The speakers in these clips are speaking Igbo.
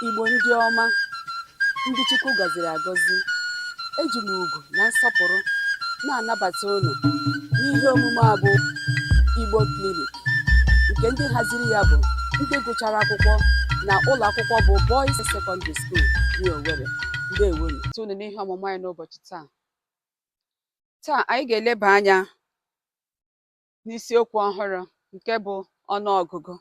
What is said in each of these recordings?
Igbo ndị ọma, ndị Chukwu gọziri agọzi, eji m ugwu na nsọpụrụ na-anabata unu n'ihe omume a bụ Igbo Clinic nke ndị haziri ya bụ ndị gụchara akwụkwọ na ụlọ akwụkwọ bụ Boys Secondary School New Owerri. Ndewonu. Tụnụ n'ihe ọmụmụ anyị n'ụbọchị taa. Taa anyị ga-eleba anya n'isiokwu ọhụrụ nke bụ ọnụ ọgụgụ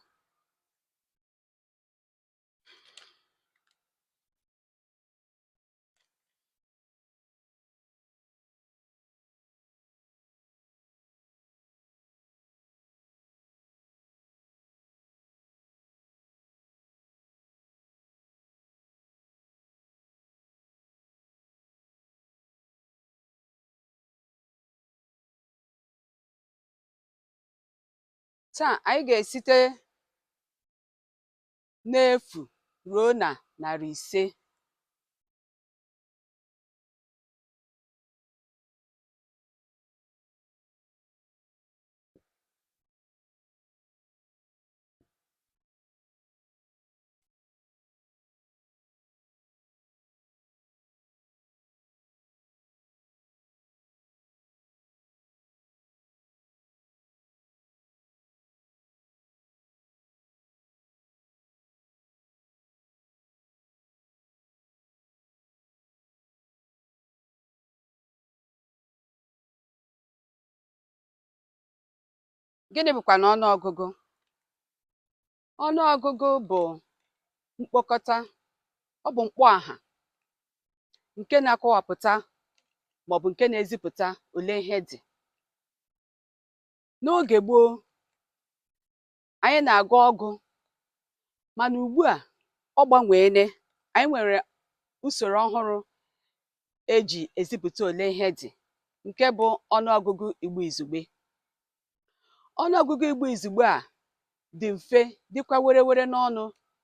taa anyị ga-esite n'efu ruo na narị ise Gịnị bụkwanụ ọnụ ọgụgụ? Ọnụ ọgụgụ bụ mkpokọta, ọ bụ mkpọaha nke na-akọwapụta maọbụ nke na-ezipụta ole ihe dị. N'oge gboo, anyị na-agụ ọgụ mana ugbu a ọ gbanweele. Anyị nwere usoro ọhụrụ e ji ezipụta ole ihe dị nke bụ ọnụ ọgụgụ Igbo Izugbe. ọnụọgụgụ Igbo izugbe a dị mfe dịkwa werewere n'ọnụ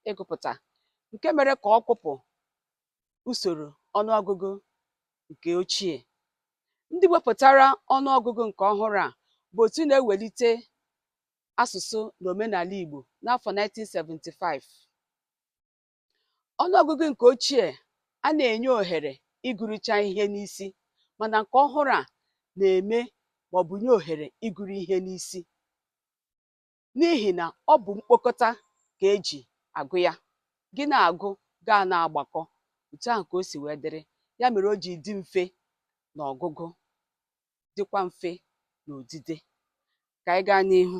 ịgụpụta nke mere ka ọ kpụpụ usoro ọnụọgụgụ nke ochie. Ndị wepụtara ọnụọgụgụ nke ọhụrụ a bụ otu na-ewelite asụsụ na omenala Igbo n'afọ 1975. Ọnụọgụgụ nke ochie a na-enye ohere ịgụrụcha ihe n'isi mana nke ọhụrụ a na-eme maọbụ nye ohere ịgụrụ ihe n'isi n'ihi na ọ bụ mkpokọta ka e ji agụ ya. Gị na-agụ, gị a na-agbakọ. Otu ahụ ka o si wee dịrị. Ya mere o ji dị mfe n'ọgụgụ, dịkwa mfe n'odide. Ka anyị gaa n'ihu.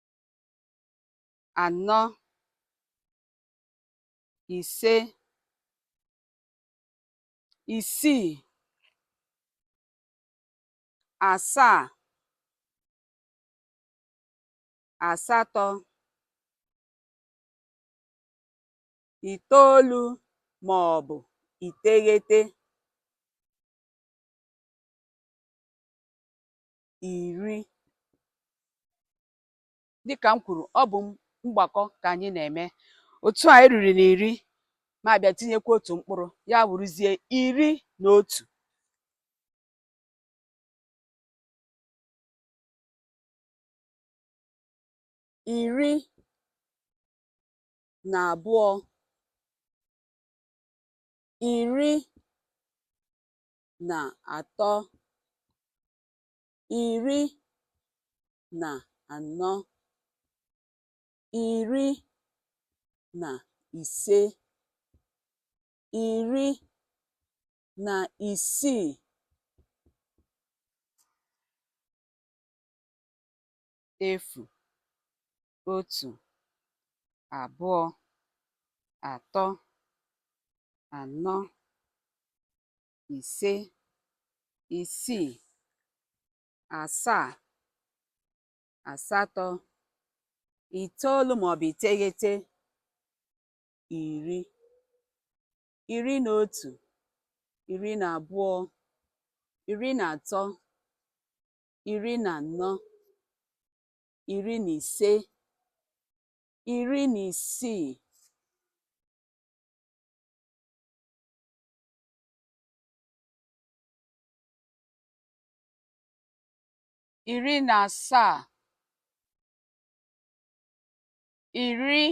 anọ ise isii asaa asatọ itoolu ma ọ bụ iteghete iri dịka m kwuru ọ bụ mgbakọ ka anyị na-eme otu anyị ruru na iri ma a bịa tinyekwa otu mkpụrụ ya wụrụzie iri na otu iri na abụọ iri na atọ iri na anọ iri na ise iri na isii efu otu abụọ atọ anọ ise isii asaa asatọ itoolu maọbụ iteghete iri iri na otu iri na abụọ iri na atọ iri na anọ iri na ise iri na isii iri na asaa iri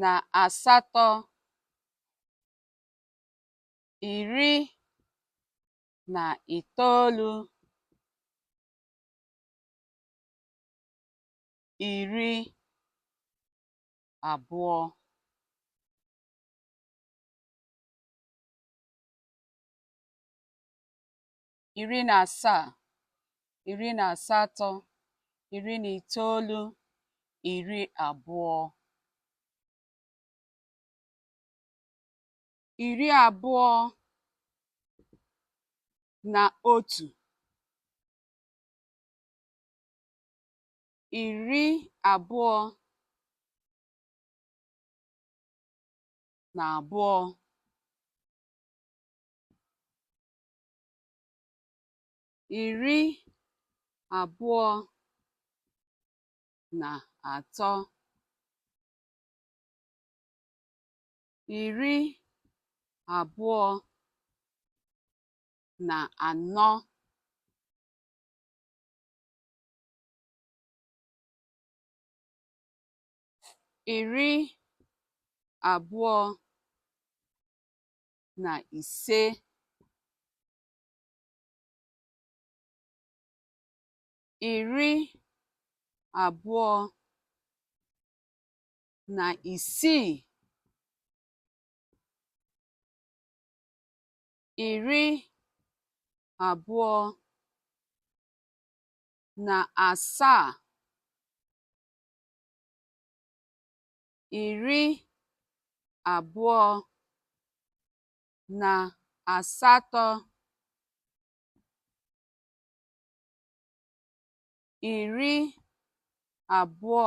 na asatọ iri na itoolu iri abụọ iri na asaa iri na asatọ iri na itoolu iri abụọ iri abụọ na otu iri abụọ na abụọ iri abụọ na atọ iri abụọ na anọ iri abụọ na ise iri abụọ na isii iri abụọ na asaa iri abụọ na asatọ iri abụọ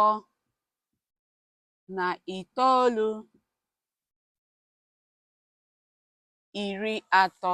na itoolu iri atọ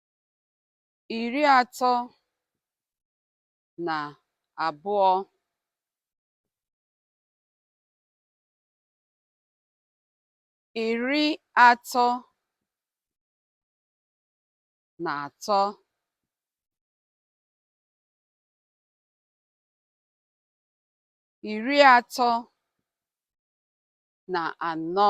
iri atọ na abụọ iri atọ na atọ iri atọ na anọ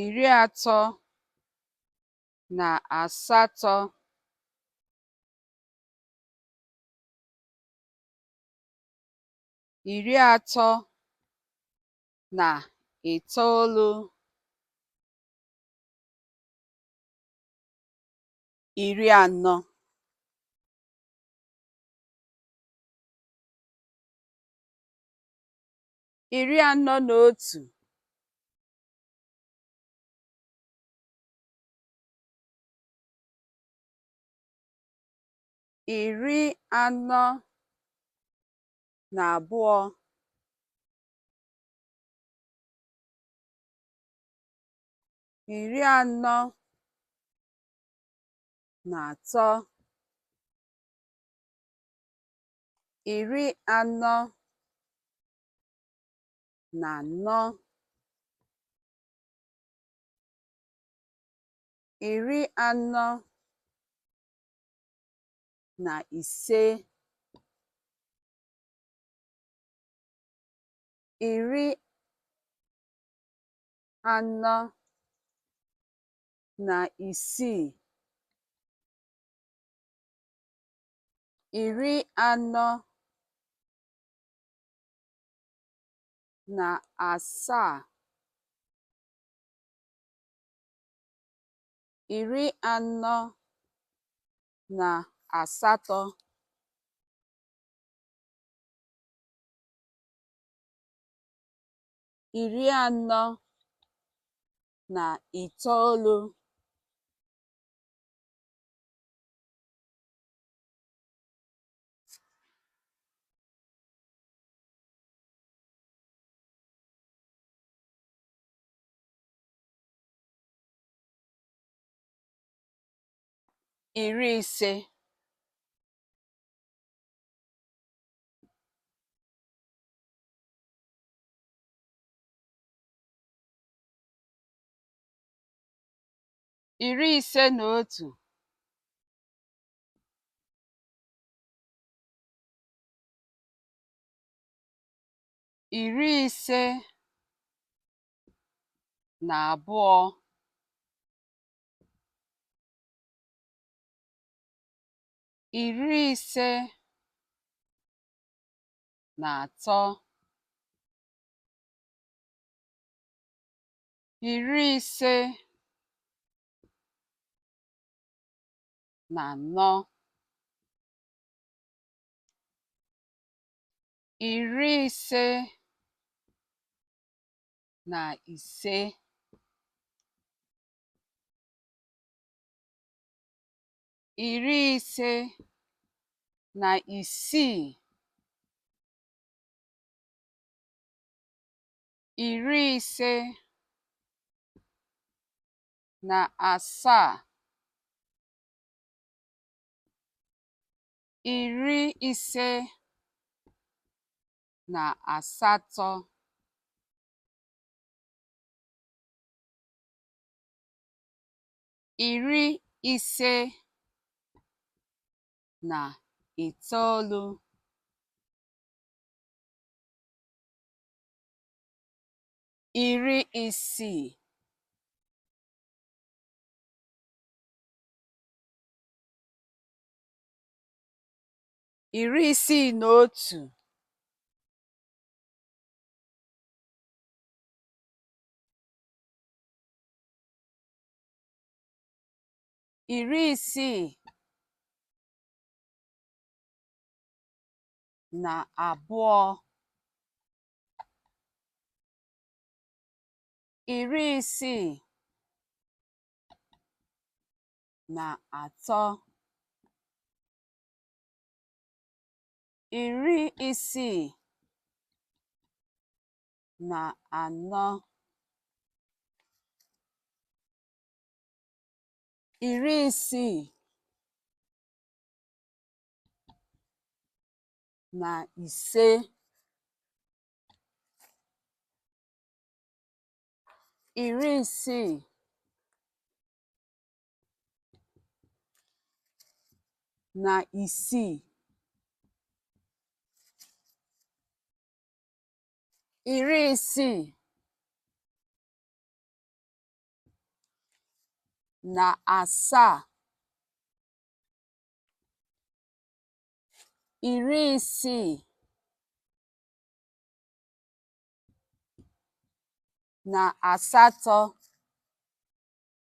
iri atọ na asatọ iri atọ na itoolu iri anọ iri anọ na otu iri anọ na abụọ iri anọ na atọ iri anọ na anọ iri anọ na ise iri anọ na isii iri anọ na asaa iri anọ na asatọ iri anọ na itoolu iri ise iri ise na otu iri ise na abụọ iri ise na atọ iri ise na anọ iri ise na ise iri ise na isii iri ise na asaa iri ise na asatọ iri ise na itoolu iri isii iri isii na otu iri isii na abụọ iri isii na atọ iri isii na anọ iri isii na ise iri isii na isii iri isii na asaa iri isii na asatọ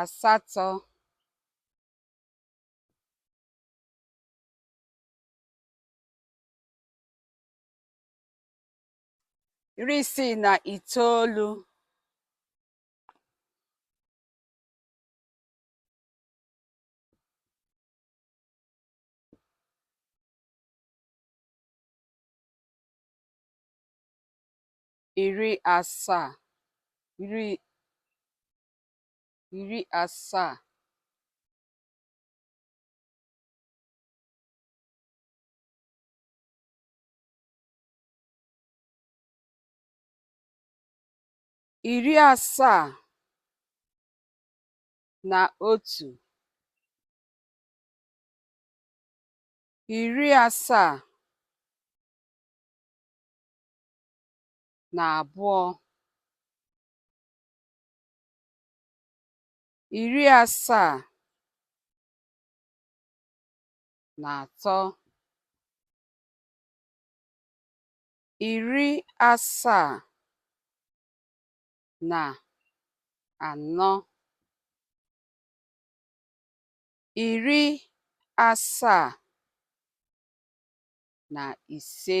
asatọ iri isii na itoolu iri asaa iri iri asaa iri asaa na otu iri asaa na abụọ iri asaa na atọ iri asaa na anọ iri asaa na ise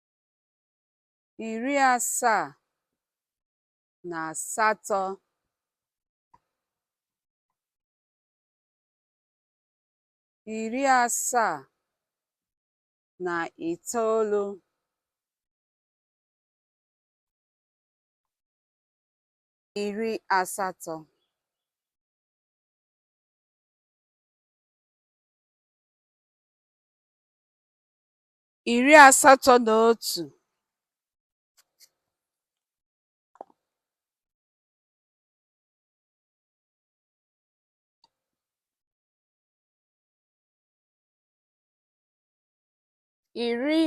iri asaa na asatọ iri asaa na itoolu iri asatọ iri asatọ na otu iri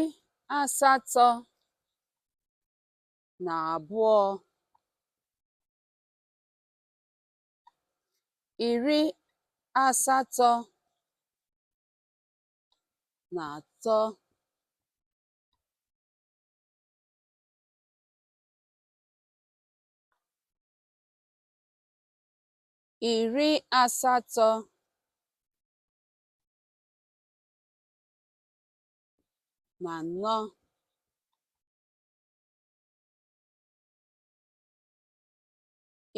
asatọ na abụọ iri asatọ na atọ iri asatọ na anọ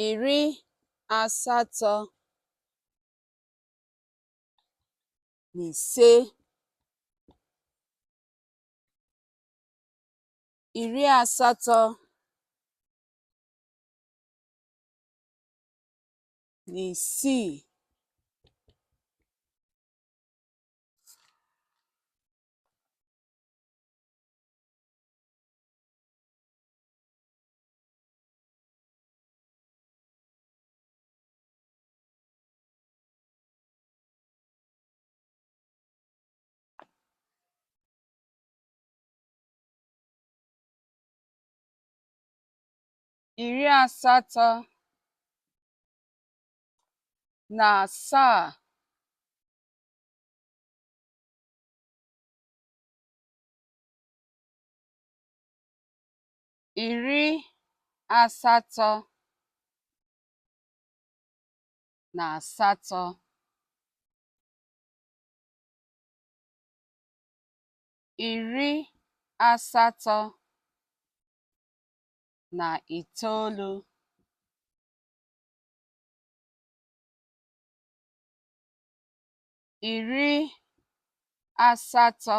iri asatọ na ise iri asatọ na isii iri asatọ na asaa iri asatọ na asatọ iri asatọ na itoolu iri asatọ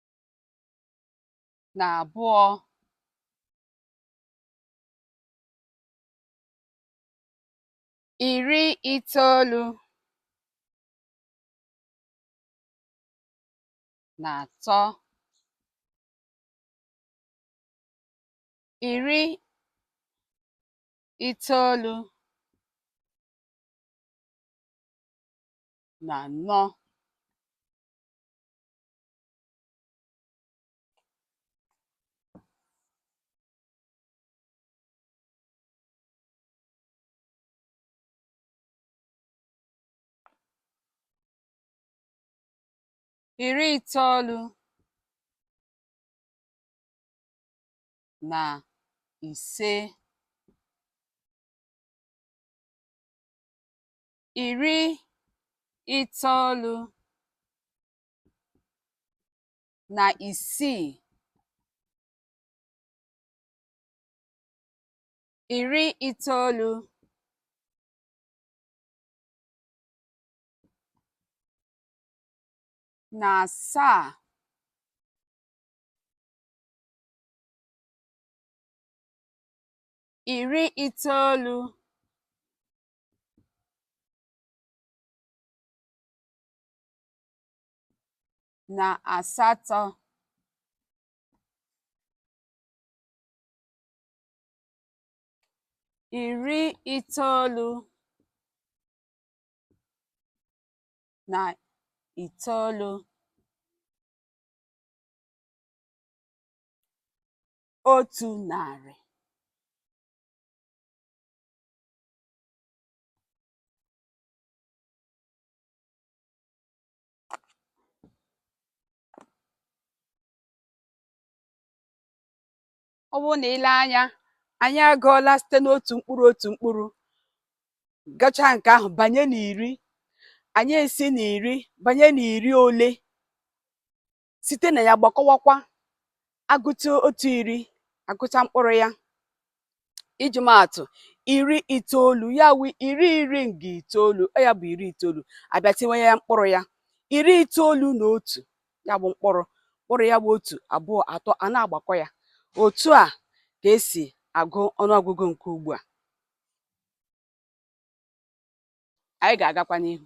na abụọ iri itoolu na atọ iri itoolu na anọ iri itoolu na ise iri itoolu na isii iri itoolu na asaa iri itoolu na asatọ iri itoolu na itoolu otu narị ọ bụrụ na i lee anya anyị agụọla site n'otu mkpụrụ otu mkpụrụ gachaa nke ahụ banye n'iri anyị esi n'iri banye n'iri ole site na ya gbakọwakwa agụta otu iri agụta mkpụrụ ya iji maa atụ iri itoolu ya wu iri iri nga itoolu ọ ya bụ iri itoolu a bịa tinye ya mkpụrụ ya iri itoolu na otu ya bụ mkpụrụ mkpụrụ ya bụ otu abụọ atọ a na-agbakọ ya otu a ka e si agụ ọnụọgụgụ nke ugbu a anyị ga-agakwa n'ihu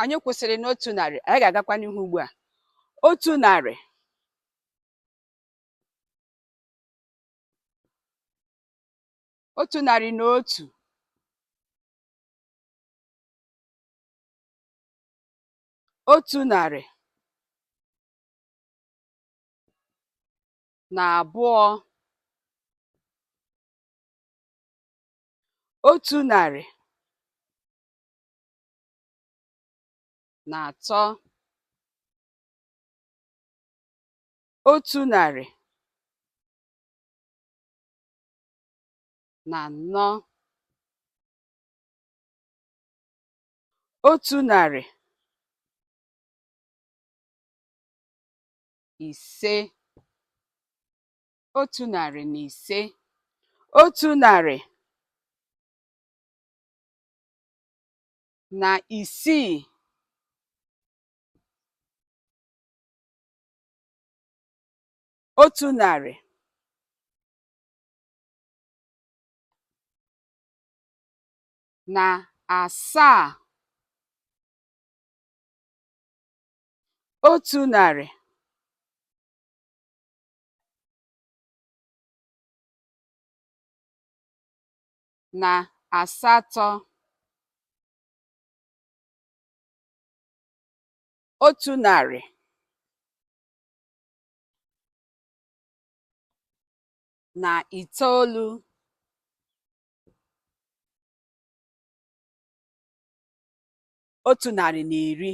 anyị kwụsịrị n'otu narị anyị ga-agakwa n'ihu ugbu a otu narị otu narị na otu otu narị na abụọ otu narị na atọ otu narị na anọ otu narị ise otu narị na ise otu narị na isii otu narị na asaa otu narị na asatọ. Otu narị. na itoolu. Otu narị na iri.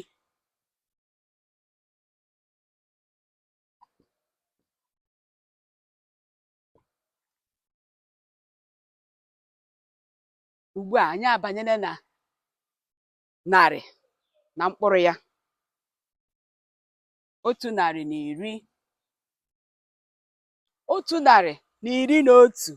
ugbu a anyị abanyela na narị na mkpụrụ ya otu narị na iri otu narị na iri na otu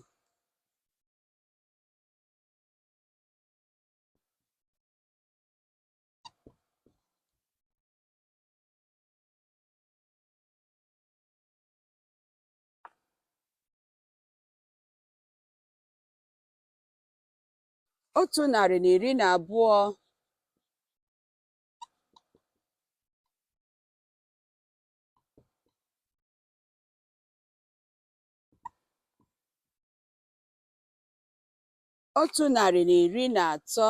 otu narị na iri na abụọ otu narị na iri na atọ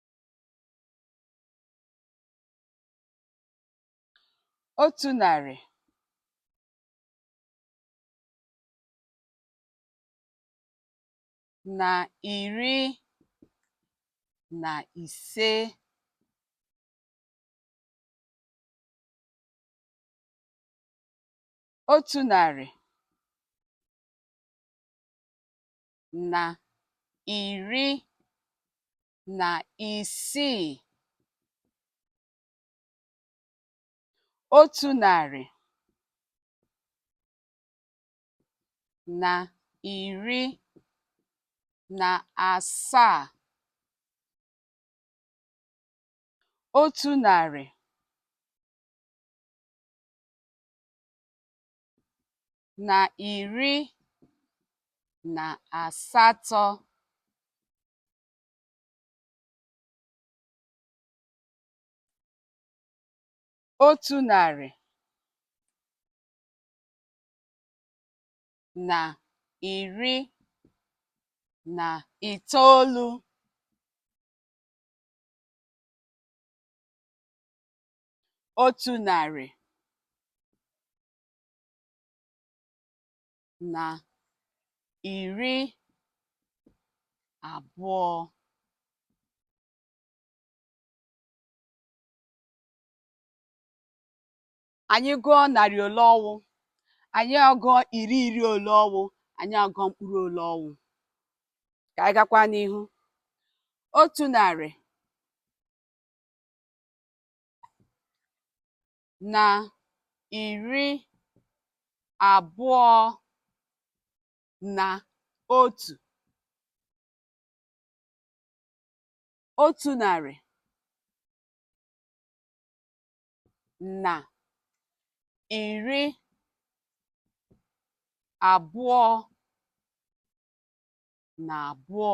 otu narị na iri na ise otu narị na iri na isii otu narị na iri na asaa otu narị na iri na asatọ otu narị na iri na itoolu otu narị na iri abụọ anyị gụọ narị ole ọ wụ anyị agụọ iri iri ole ọ wụ anyị agụọ mkpụrụ ole ọ wụ ka anyị gakwa n'ihu otu narị na iri abụọ na otu otu narị na iri abụọ na abụọ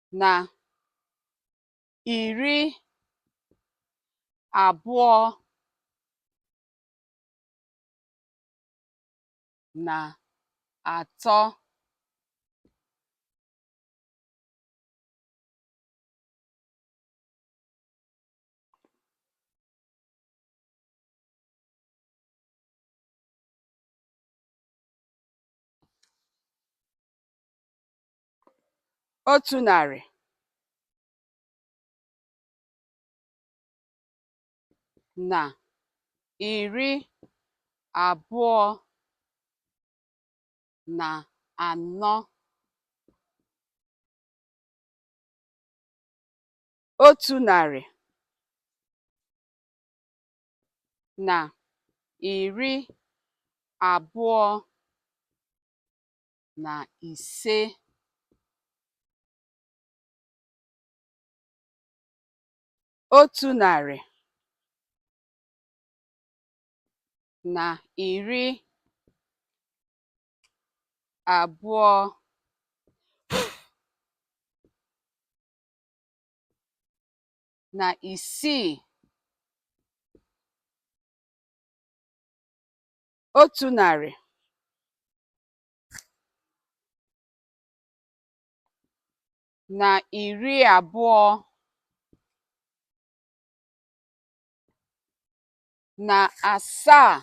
na iri abụọ na atọ otu narị na iri abụọ na anọ otu narị na iri abụọ na ise. Otu narị na iri abụọ na isii otu narị na iri abụọ na asaa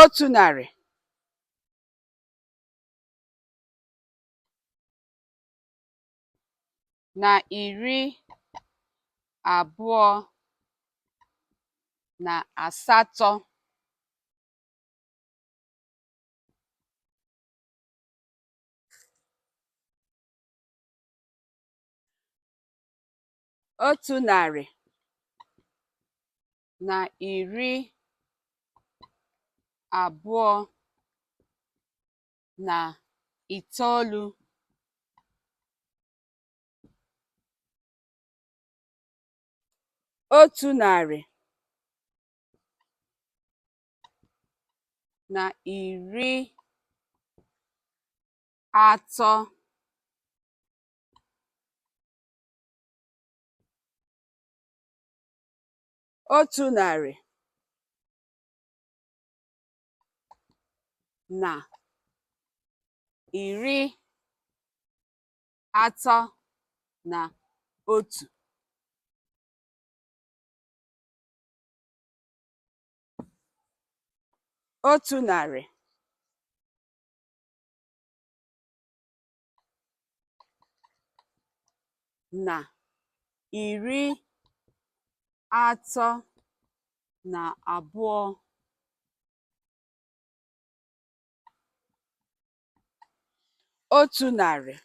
otu narị na iri abụọ na asatọ otu narị na iri abụọ na itoolu otu narị na iri atọ otu narị na iri atọ na otu otu narị na iri atọ na abụọ otu narị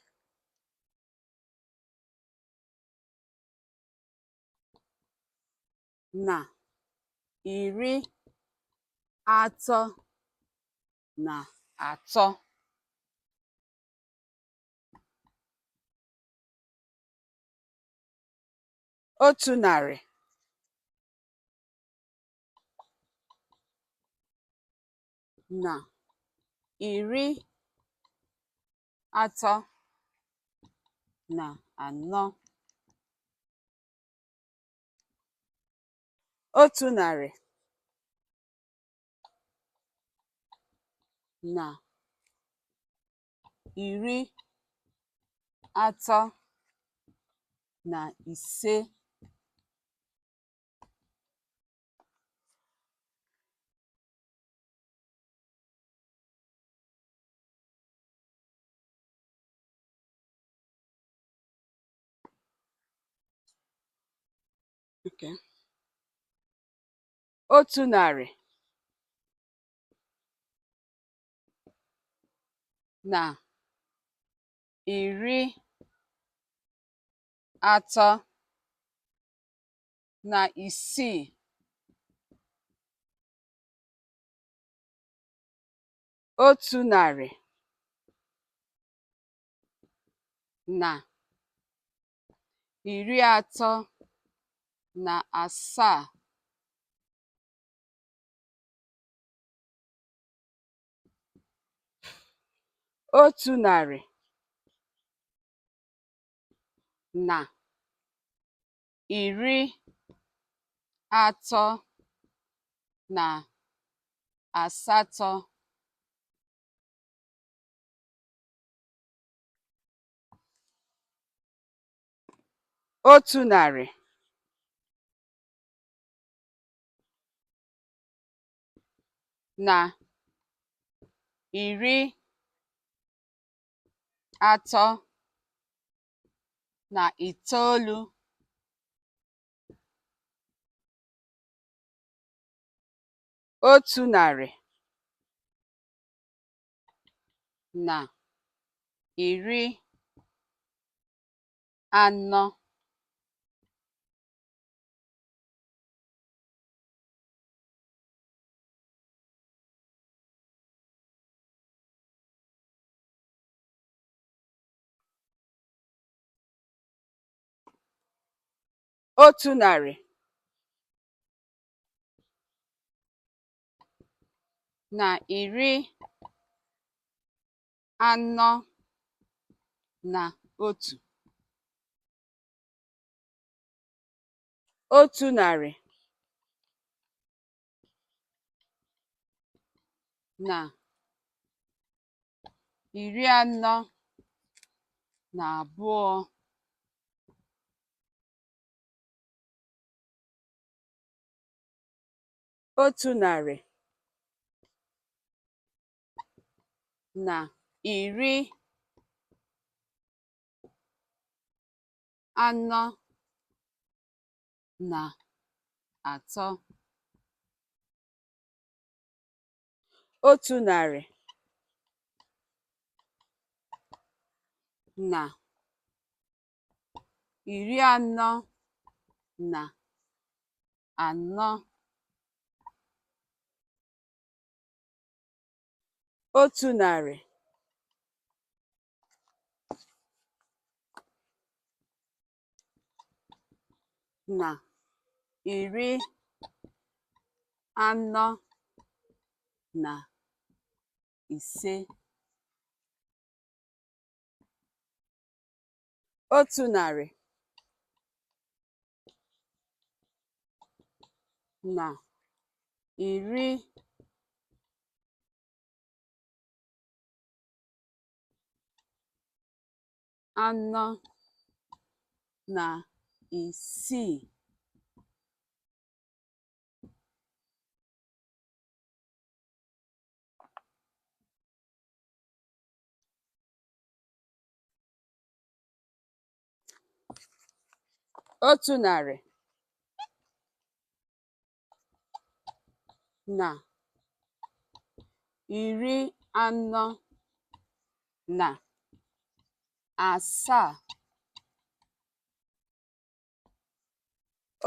na iri atọ na atọ otu narị na iri atọ na anọ otu narị na iri atọ na ise otu narị na iri atọ na isii otu narị na iri atọ na asaa otu narị na iri atọ na asatọ otu narị na iri atọ na itoolu otu narị na iri anọ otu narị na iri anọ na otu. Otu narị na iri anọ na abụọ. otu narị na iri anọ na atọ otu narị na iri anọ na anọ otu narị na iri anọ na ise otu narị na iri anọ na isii otu narị na iri anọ na asaa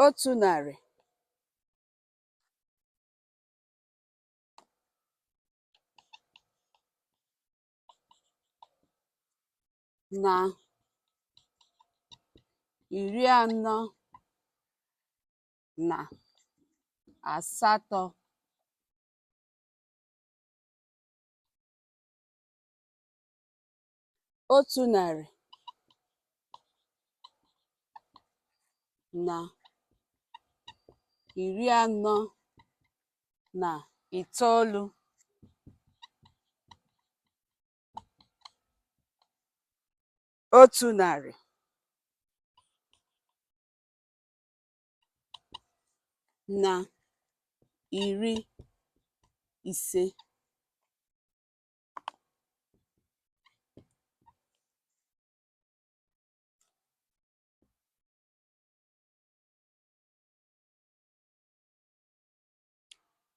otu narị na iri anọ na asatọ otu narị na iri anọ na itoolu otu narị na iri ise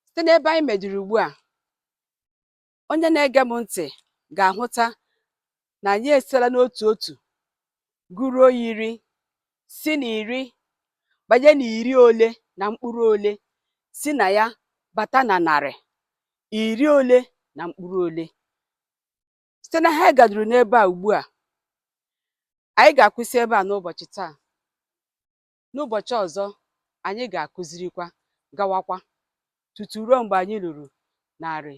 site n'ebe anyị meduru ugbu a onye na-ege m ntị ga-ahụta na anyị esitela n'otu otu gụruo iri si na iri banye na iri ole na mkpụrụ ole si na ya bata na narị iri ole na mkpụrụ ole site na ha gaduru n'ebe a ugbu a anyị ga-akwụsị ebe a n'ụbọchị taa n'ụbọchị ọzọ anyị ga-akụzirikwa gawakwa tutu ruo mgbe anyị ruru narị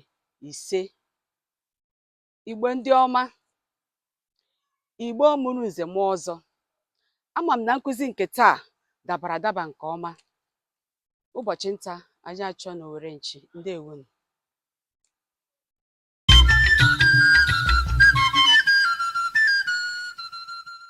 ise igbo ndị ọma igbo mụrụ nze mụọ ọzọ ama m na nkụzi nke taa dabara adaba nke ọma ụbọchị nta anyị achụọ n'owere nchi ndewo nụ